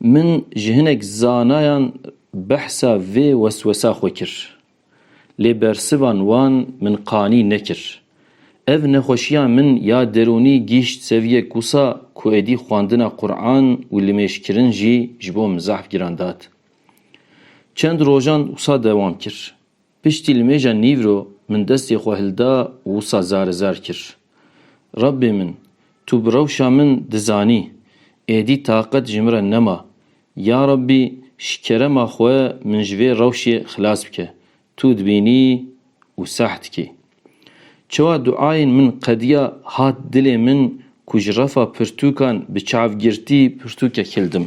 Min ji hinek zanayan behsa vê weswesa xwe kir. Lê bersivan wan min qanî nekir. Ev nexweşiya min ya derûnî gîşt seviyek wisa ku êdî xwendina Quran û limêjkirin jî ji bo min zehf giran dat. Çend rojan wisa dewam kir. Piştî li mêja nîvro min destê xwe hilda wisa zarizar kir, Rabbê min, tu bi rewşa min dizanî, êdî taqet ji min re nema, ya Rabbî ji kerema xwe min ji vê rewşê xilas bike, tu dibînî û sah dikî. Çawa duayên min qediya hat dilê min ku ji refa pirtûkan bi çavgirtî pirtûkek hildim.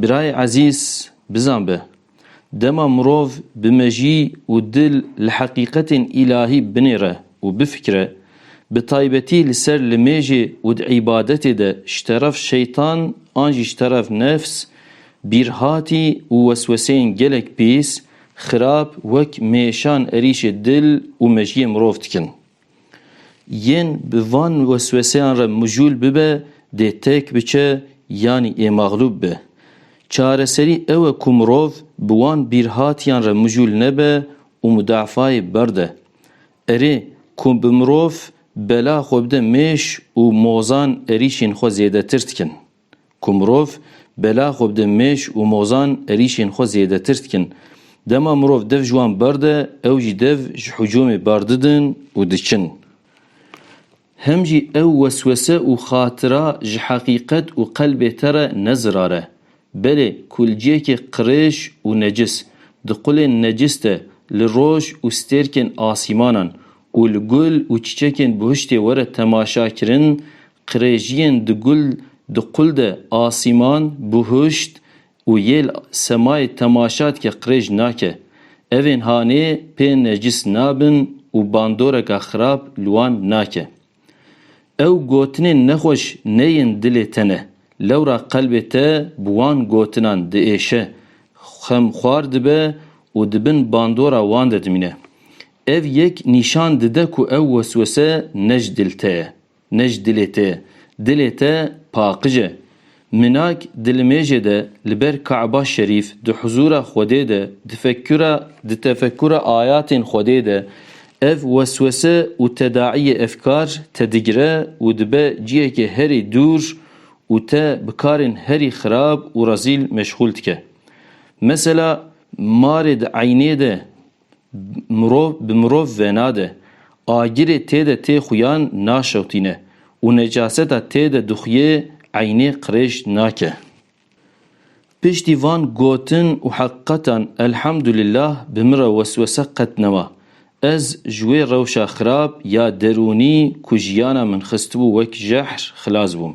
Birayê ezîz bizan be, dema mirov bi mejî û dil li heqîqetên îlahî binêre û bifikre, bi taybetî li ser limêjê û di îbadetê de ji teref şeytan an jî ji teref nefs, bîrhatî û wesweseyên gelek pîs, xirab wek mêşan erîşê dil û mejiyê mirov dikin. Yên bi van wesweseyan re mijûl bibe dê têk biçe yanî ê maxlûb be. Çareserî ew e ku mirov bi wan bîrhatiyan re mijûl nebe û mudaafayê berde. Erê, ku bi mirov bela xwe bide mêş û mozan erîşên xwe zêdetir dikin. Ku mirov bela xwe bide mêş û mozan erîşên xwe zêdetir dikin. Dema mirov dev ji wan barde ew jî dev ji hicûmê bardidin û diçin. Hem jî ew weswese û xatira ji heqîqet û qelbê te re ne zirar e. Belê kulciyekê qirêj û necis, di qulên necis de li roj û stêrkên asîmanan û li gul û çiçekên bihiştê were temaşakirin Qirêjiyên di gul di qul de asîman, buhuşt û yêl semayê temaşa dike qirêj nake. Evên hanê pê necis nabin û bandoreka xirab li wan nake. Ew gotinên nexweş neyên dilê te ne. Lewra qelbê te bi wan gotinan diêşe, xemxwar dibe û di bin bandora wan de dimîne. Ev yek nîşan dide ku ew weswese ne ji dil te ye. Ne ji dilê te ye. Dilê te paqij e. Minak di limêjê de li ber Ka'ba Şerîf, di huzûra Xwedê de, di fekura di tefekura ayatên Xwedê de, ev weswese û tedaîyê efkar te digire û dibe cihekê herî dûr û te bi karên herî xirab û rezîl meşxûl dike. Mesela marê di eynê de Mirov bi mirov venade. Agirê tê de tê xuyan naşewtîne û necaseta tê de dixuyê eynê qirêj nake. Piştî van gotin û heqiqetan Elhamdulillah bi min re weswese qet nema. Ez ji wê rewşa xirab ya derûnî ku jiyana min xistibû wek jehr xilas bûm.